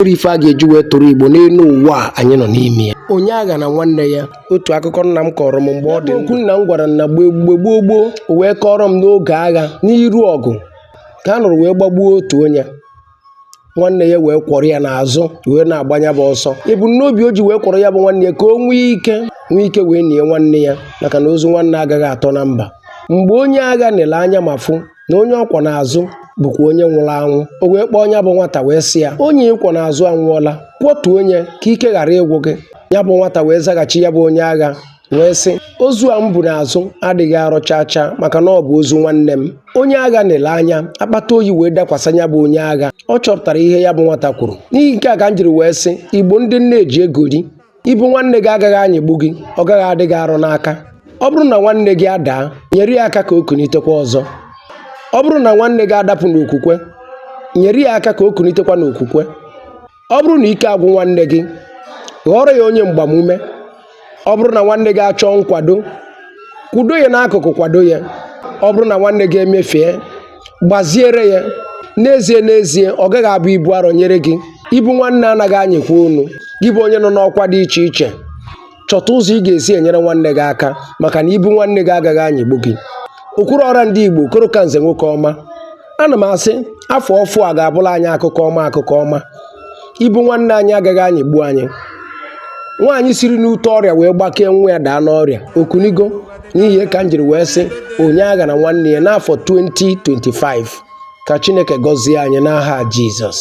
nwere ife a ga-eji wee tụrụ igbo n'elu ụwa anyị nọ n'ime ya onye agha na nwanne ya otu akụkọ nna m kọọrọ m mgbe ọ dị okwu nna m gwara m na mgbe mgbe gboo gboo o wee kọọrọ m n'oge agha n'iru ọgụ ka a nọrọ wee gbagbuo otu onye nwanne ya wee kwọrọ ya n'azụ wee na-agba nya bụ ọsọ ebumnobi o ji wee kwọrọ ya bụ nwanne ya ka o nwee ike nwee ike wee nie nwanne ya maka na ozu nwanne agaghị atọ na mba mgbe onye agha nele anya ma fụ na onye ọ kwọ n'azụ bụkwa onye nwụrụ anwụ o wee kpọọ nya bụ nwata wee sị ya onye ị kwọ n'azụ anwụọla kwọtuo nya ka ike ghara ịgwụ gị ya bụ nwata wee zaghachi ya bụ onye agha wee sị ozu a m bu n'azụ adịghị arọ chaa chaa maka na ọ bụ ozu nwanne m onye agha na-ele anya akpata oyi wee dakwasa ya bụ onye agha ọ chọpụtara ihe ya bụ nwata kwuru n'ihi nke a ka m jiri wee sị igbo ndị m na-eji egori Ibu nwanne gị agaghị anyịgbu gị, ọ gaghị adị gị arọ n'aka. Ọ bụrụ na nwanne gị adaa, nyere ya aka ka o kunitekwa ọzọ. Ọ bụrụ na nwanne gị adapụ n'okwukwe, nyere ya aka ka o kunitekwa n'okwukwe. Ọ bụrụ na ike agwụ nwanne gị, ghọọrọ ya onye mgbamume. Ọ bụrụ na nwanne gị achọọ nkwado, kwụdo ya n'akụkụ kwado ya. Ọ bụrụ na nwanne gị emefie, gbaziere ya n'ezie n'ezie ọ gaghị abụ ibu arọ nyere gị ibu nwanne anaghị anyịkwa unu gị bụ onye nọ n'ọkwa dị iche iche chọta ụzọ ị ga-esi enyere nwanne gị aka maka na ibu nwanne gị agaghị anyịgbu gị okwuru ọra ndị igbo okoro ka nze nwoke ọma ana m asị afọ ọfụụ a ga-abụlụ anyị akụkọ ọma akụkọ ọma ibu nwanne anyị agaghị anyịgbu anyị nwaanyị siri n'ute ọrịa wee gbakee nwa ya daa n'ọrịa o kunigo n'ihi ka m jiri wee sị onye agha na nwanne ya n'afọ 2025 ka chineke gọzie anyị n'aha jizọs